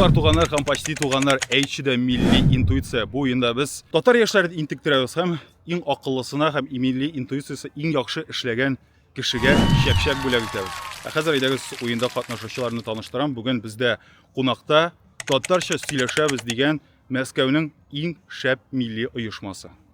Дуслар, туганнар һәм почти туганнар, әйтче дә милли интуиция. Бу уенда без татар яшьләрен интектерәбез һәм иң акыллысына һәм милли интуициясе иң яхшы эшләгән кешегә чәпчәк бүләк итәбез. Ә хәзер әйдәгез уенда катнашучыларны таныштырам. Бүген бездә кунакта татарча сөйләшәбез дигән Мәскәүнең иң шәп милли оешмасы.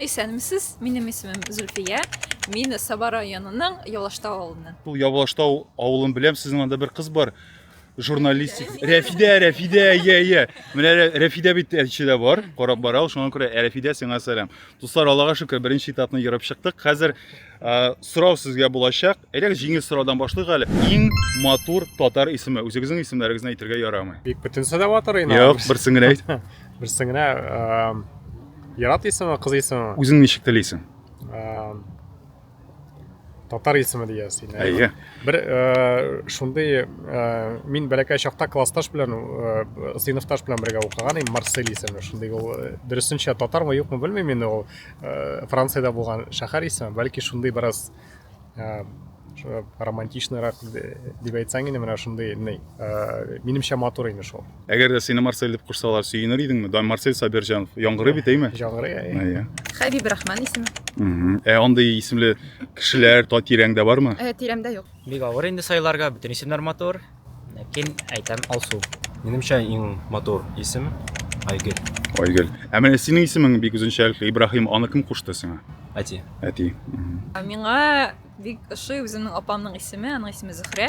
Исәнмесез, минем исемем Зөлфия, мин Саба районының Ялаштау авылыннан. Ул Явлаштау авылын беләм, сезнең анда бер кыз бар, журналистик. Рәфидә, Рәфидә, иә, иә. Менә Рә- Рәфидә бит Әлчедә бар, карап бара ул, шуңа күрә ә, Рәфидә сиңа сәлам. Дуслар, Аллага шөкер, беренче этапны ерып чыктык. Хәзер Ә, сорау сезгә булачак. Элек җиңел сораудан башлыйк әле. Иң матур татар исеме. Үзегезнең исемнәрегезне әйтергә ярамый. Бик бөтен сәдә батыр инде. Юк, берсен генә әйт. Берсен генә Ярат исеме, кыз исеме. Үзең ничек телисең? татар исеме диясең. Әйе. Бер шундый мин бәләкәй чакта классташ белән сыйныфташ белән бергә укыган идем, Марсель исемле. Шундый ул дөресенчә татармы юкмы белмим инде ул. э, франциядә булган шәһәр исеме бәлки шундый бераз э, романтичныйрак дип әйтсәң инде менә шундый ни э, минемчә матур инде шул әгәр дә сине марсель дип кушсалар сөенер идеңме да марсель сабирҗанов яңгырый бит әйме яңгырый әйе хәбиб рахман исеме ә андый исемле кешеләр тирәңдә бармы ә тирәмдә юк бик авыр инде сайларга бөтен исемнәр матур Ләкин әйтәм Алсу. Минемчә иң матур исем Айгөл. Айгөл. Ә менә синең исемең бик үзенчәлекле Ибраһим, аны кем кушты сиңа? Әти. Әти. Миңа бик ошый үземнең апамның исеме, аның исеме Зөхрә.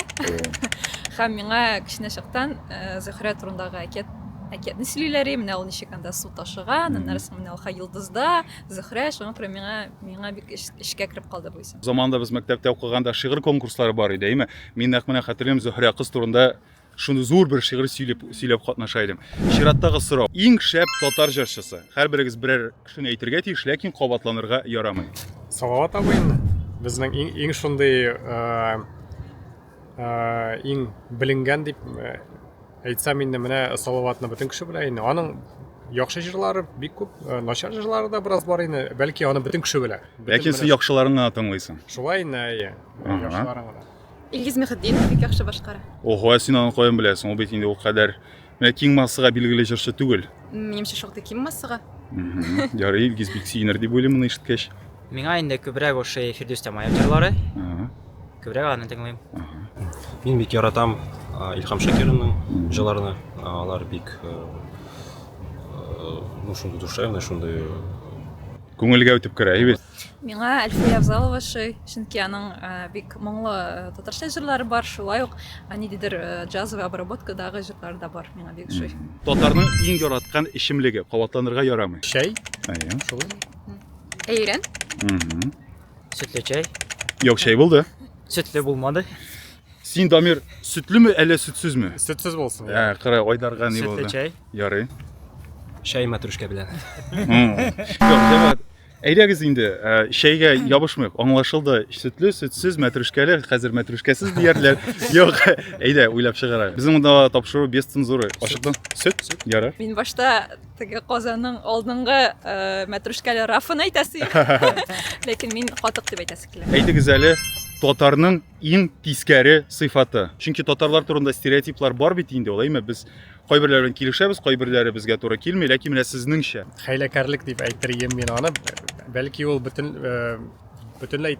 Һәм миңа кечкенә чактан э, Зөхрә турындагы әкият әкиятне сөйлиләр, менә ул ничек анда су ташыган, аннары соң менә ул ха йолдызда, Зөхрә, шуңа күрә миңа миңа бик эчкә кереп калды бу исем. Заманда без мәктәптә укыганда шигырь конкурслары бар иде, әйме? Мин нәкъ менә хәтерлим, Зөһрә кыз турында шуны зур бер шигырь сөйләп сөйләп катнаша идем. Чираттагы сорау. Иң шәп татар җырчысы. Һәрберегез берәр кешене әйтергә тиеш, ләкин кабатланырга ярамый. Салават абый инде. Безнең иң, иң шундый э, э, иң беленгән дип э, Әйтсәм инде менә Салаватны бөтен кеше белә инде. Аның яхшы җырлары бик күп, э, начар җырлары да бераз бар инде. Бәлки аны бөтен кеше белә. Бөтен Ләкин сез менә- яхшыларын гына тыңлыйсың. Шулай инде, әйе. Ага. Яхшыларын гына. Илгиз Мөхетдинов бик яхшы башкара. Ого, ә син аны каян беләсең? Ул бит инде ул кадәр менә киң массага билгеле җырчы түгел. Минемчә, шактый ким массага. Мгм. Ярый, Илгиз бик сөенер дип уйлыйм моны ишеткәч. Миңа инде күбрәк ошый Фирдүс Тямаев җырлары. Күбрәк аны тыңлыйм. Мин бик яратам Илхам Шакированың җырларны. Алар бик ну шундый душевный, шундый күңелгә үтеп керә бит. Миңа Әлфия Авзалова шый, чөнки аның бик моңлы татарча җырлары бар, шулай ук ниндидер джазовый обработкадагы җырлар да бар миңа бик шый. Татарның иң яраткан эчемлеге кабатланырга ярамый. Чәй? Әйе, шулай. Әйрән. Угу. Сөтле чәй. Юк, чәй булды. Сөтле булмады. Син, Дамир, сөтлеме әллә сөтсезме? Сөтсез булсын. Ә, кара, Айдарга ни булды? Сөтле чәй. Ярый. Чәй мәтрүшкә белән. Әйдәгез инде, ә, чәйгә ябышмыйк. Аңлашылды. Сөтле, сөтсез, мәтрүшкәле, хәзер мәтрүшкәсез диярләр. Юк, әйдә, уйлап чыгарайык. Безнең монда тапшыру без цензуры. Ачыктан. Сөт? Ярый. Мин башта Теге казаның алдынгы мәтрүшкәле рафын әйтәсе ләкин мин катык дип әйтәсе килә. Әйтегез әле, татарның иң тискәре сыйфаты. Чөнки татарлар турында стереотиплар бар бит инде ул, әйме без кайберләр белән килешәбез, кайберләре безгә туры килми, ләкин менә сезнеңчә. Хәйләкәрлек дип әйтер идем мин аны. Бәлки ул бөтен бөтенләй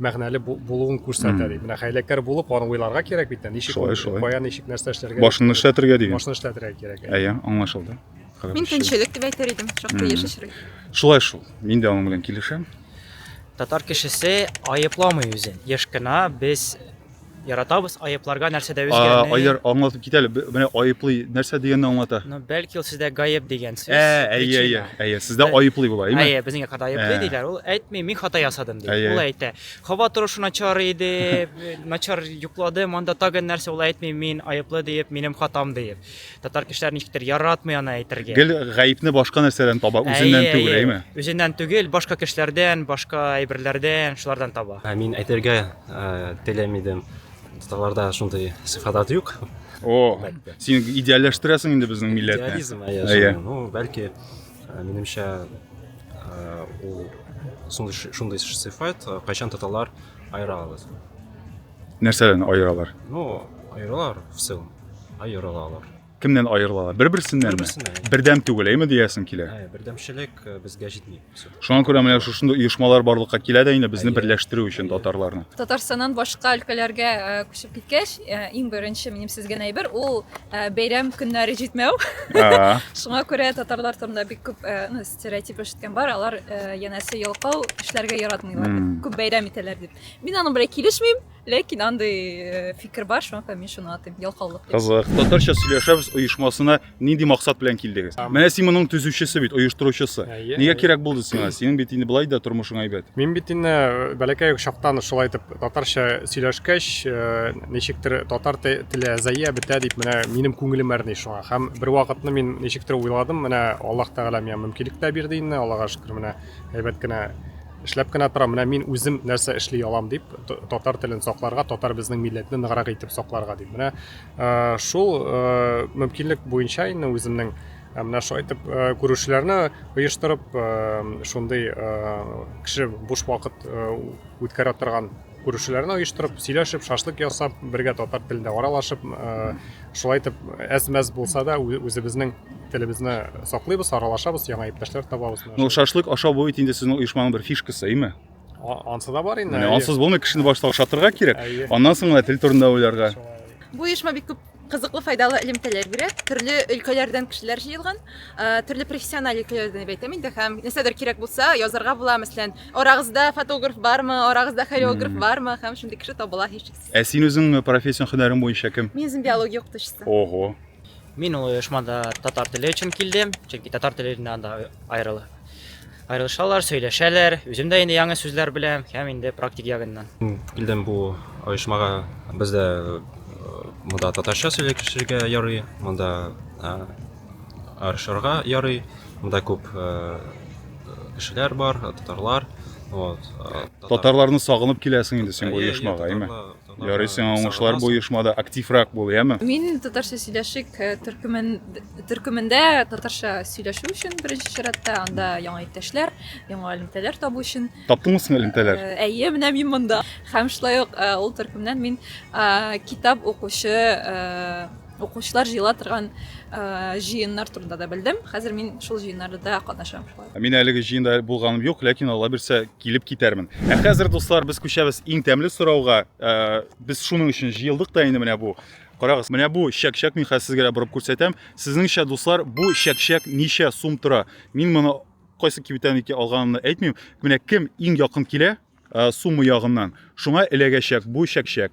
мәгънәле булуын күрсәтә ди. Менә хәйләкәр булып, аны уйларга кирәк бит, ничек, кая, ничек, нәрсә эшләргә. Башны эшләтергә дигән. Башны эшләтергә кирәк. Әйе, аңлашылды. Мин көнчелек дип әйтер идем, шактый еш эшли. Шулай шул. Мин дә аның белән килешәм. Татар кешесе аепламый үзен. Еш кына без Яратабыз, аепларга нәрсәдә үзгәрми. Айдар, аңлатып кит әле, менә айыплый нәрсә дигәнне аңлата. Ну, бәлки ул сездә гаеп дигән сүз. Әйе, әйе, әйе, сездә айыплый була, әйме? Әйе, безнең якта айыплый диләр. Ул әйтми, мин хата ясадым ди. Ул әйтә, хаба торышы начар иде, начар йокладым, анда тагын нәрсә, ул әйтми, мин айыплы диеп, минем хатам диеп. Татар кешеләр ничектер яратмый аны әйтергә. Гел гаепне башка нәрсәдән таба, үзеннән Әйе, түгел, әйе. әйме? Үзеннән түгел, башка кешеләрдән, башка әйберләрдән, шулардан таба. Ә Мин әйтергә э, теләми идем. Татарларда шундый сыйфатлар юк. О, син идеалләштерәсең инде безнең милләтне. Идеализм, әйе, Әйе. шундый. Ну, бәлки, э, минемчә, э, ул шундый ш- шундый сыйфат, э, кайчан татарлар аера алабыз. Нәрсәдән аералар? Ну, аерылар в целом. Аерылалар. Кемнән аерылалар? Бер-берсеннән Бер-берсеннән. Бердәм түгел, әйме диясең килә? Ә, бердәмчелек э, безгә җитми. Шуңа күрә менә шушында оешмалар барлыкка килә дә инде безне берләштерү өчен татарларны. Татарстаннан башка өлкәләргә э, күчеп киткәч, э, иң беренче минем сезгән әйбер ул э, бәйрәм көннәре җитмәү. Шуңа күрә татарлар турында бик күп э, ну, стереотип ишеткән бар, алар э, янәсе ялкау эшләргә яратмыйлар. Күп бәйрәм итәләр дип. Мин аның белән килешмим, ләкин андый э, фикер бар, шуңа күрә мин шуны атыйм, ялкаулык дип. Кызык. Татарча сөйләшәбез оешмасына нинди максат белән килдегез? Менә син моның төзүчесе бит, оештыручысы. Әйе, Нигә әйе. кирәк булды сиңа? Синең бит инде былай да тормышың әйбәт. Мин бит инде э, бәләкәй чактан шулай итеп татарча сөйләшкәч, э, ничектер татар те- теле әзәя бетә дип менә минем күңелем әрни шуңа. Һәм бер вакытны мин ничектер уйладым, менә Аллаһ Тәгалә миңа мөмкинлек тә бирде инде, Аллага шөкер, менә әйбәт кенә Эшләп кенә торам, менә мин үзем нәрсә эшли алам дип, татар телен сакларга, татар безнең милләтне ныграк итеп сакларга дип. Менә э, шул э, мөмкинлек буенча инде үземнең э, менә шулай итеп күрешүләрне оештырып, шундый кеше буш вакыт үткәрә торган Күршеләрне оештырып, сөйләшеп, шашлык ясап, бергә татар телендә аралашып, э, шулай итеп әз-мәз булса да ү- үзебезнең телебезне саклыйбыз, аралашабыз, яңа иптәшләр табабыз. Менә Ну, шул. шашлык ашау бу бит инде сезнең оешманың бер фишкасы, әйме? А- Ансы да бар инде. Менә әйе. ансыз булмый, кешене башта ашатырга кирәк, Әйе. аннан соң гына тел турында уйларга. Шулай. Бу оешма бик күп Кызыклы файдалы элемтәләр бирә. Төрле өлкәләрдән кешеләр җыелган. Төрле профессиональ өлкәләрдән дип әйтәм инде һәм нәрсәдер кирәк булса, язарга була, мәсәлән, арагызда фотограф бармы, арагызда хореограф бармы һәм шундый кеше табыла һичшиксез. Ә син үзең профессион һөнәрең буенча кем? Мин үзем биология укытучысы. Ого. Мин ул оешмада татар теле өчен килдем, чөнки татар теле анда аерыла. Аерылышалар, сөйләшәләр. Үзем дә инде яңа сүзләр беләм һәм инде практик ягыннан. Килдем бу оешмага. Бездә э, монда татарча сөйләшергә ярый, монда э, арышырга ярый. Монда күп э, кешеләр бар, татарлар. Вот. Татарларны сагынып киләсең инде син бу оешмага, әйме? Ярый сиңа уңышлар бу оешмада активрак бул, яме? Мин татарча сөйләшик төркемен төркемендә татарча сөйләшү өчен беренче чиратта анда яңа иптәшләр, яңа элемтәләр табу өчен. Таптыңмы соң элемтәләр? Әйе, менә мин монда. Һәм шулай ук ул төркемнән мин китап укучы укучылар җыела торган җыеннар турында да белдем. Хәзер мин шул җыеннарда катнашам. Мин әлеге җыенда булганым юк, ләкин Алла бирсә, килеп китәрмен. Ә хәзер, дуслар, без күчәбез иң тәмле сорауга. Ә, без шуның өчен җыелдык та инде менә бу. Карагыз, менә бу чәкчәк мин хәзер сезгә борып күрсәтәм. Сезнеңчә, дуслар, бу чәкчәк ничә сум тора? Мин моны кайсы кибеттән икән алганымны әйтмим. Менә кем иң якын килә ә, сумма ягыннан, шуңа эләгәчәк бу чәкчәк.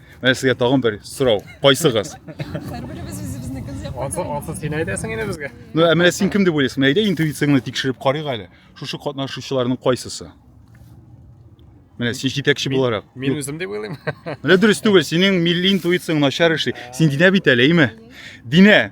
Менә сезгә тагын бер сорау. Кайсыгыз? Һәрберебез үзебезнекен сөйләп Ансы, ансы син әйтәсең инде безгә. Ну, ә менә син кем дип уйлыйсың? Менә әйдә интуицияңне тикшереп карыйк әле. Шушы катнашучыларның кайсысы? Менә син җитәкче буларак. Мин үзем дип уйлыйм. Менә дөрес түгел, синең милли интуицияң начар эшли. Син Динә бит әле, әйме? Динә,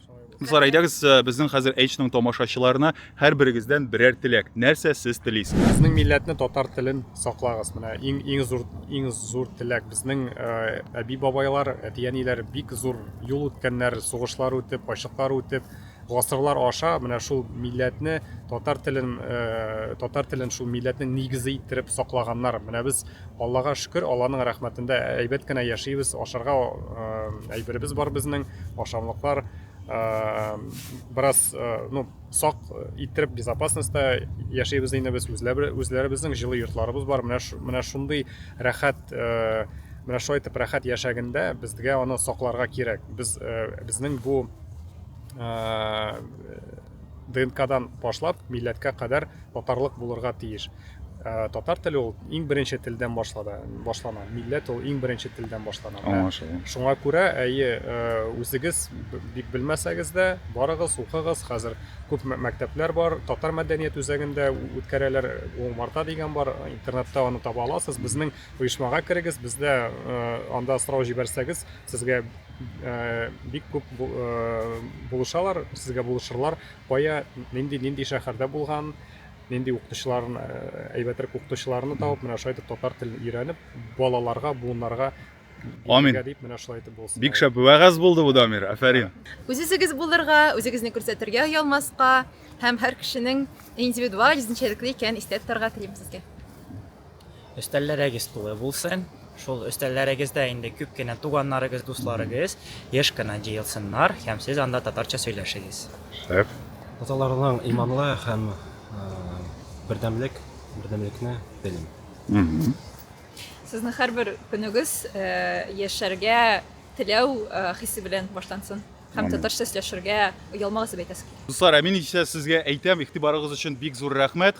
Кызлар, әйдәгез, э, безнең хәзер H-ның тамашачыларына һәрберегездән берәр теләк. Нәрсә сез телисез? Безнең милләтне, татар телен саклагыз. Менә иң иң зур иң зур теләк. Безнең э, әби бабайлар, әти әниләр бик зур юл үткәннәр, сугышлар үтеп, ачлыклар үтеп, гасырлар аша менә шул милләтне, татар телен, э, татар телен шул милләтнең нигезе иттереп саклаганнар. Менә без Аллага шөкер, Алланың рәхмәтендә әйбәт кенә яшибез, ашарга әйберебез бар безнең, ашамлыклар бераз ну сак иттереп безопасностьта яшибез инде без үзләребезнең җылы йортларыбыз бар менә менә шундый рәхәт менә шулай итеп рәхәт яшәгәндә безгә аны сакларга кирәк без безнең бу ДНКдан башлап, милләткә кадәр татарлык булырга тиеш. Э, татар теле ул иң беренче телдән башлады, башлана. Милләт ул иң беренче телдән башлана. Аңлашылды. Шуңа күрә, әйе, э, үзегез бик белмәсәгез дә, барыгыз, укыгыз. Хәзер күп мәктәпләр бар, татар мәдәният үзәгендә үткәрәләр, Уңмарта дигән бар, интернетта аны таба аласыз. Безнең Оешмага керегез, бездә анда сорау җибәрсәгез, сезгә бик күп булышалар, сезгә булышырлар, кая, нинди, нинди шәһәрдә булган, нинди укытучыларын әйбәтрәк укытучыларны табып менә шулай итеп татар телен өйрәнеп балаларга буыннарга Амин. Дип менә шулай итеп булсын. Бик шәп вәгазь булды бу Дамир. Афәрин. Үзегез булырга, үзегезне күрсәтергә ялмаска һәм һәр кешенең индивидуаль үзенчәлекле икәнен истә тотарга телим сезгә. Өстәлләрегез тулы булсын. Шул өстәлләрегездә инде күп кенә туганнарыгыз, дусларыгыз еш кына җыелсыннар һәм сез анда татарча сөйләшегез. Шәп. Татарларның иманлы һәм бердәмлек, бердәмлекне телим. Мхм. Сезнең һәрбер көнегез яшәргә теләү хисе белән башлансын һәм татарча сөйләшергә оялмагыз дип әйтәсе килә. Дуслар, ә мин исә сезгә әйтәм, игътибарыгыз өчен бик зур рәхмәт.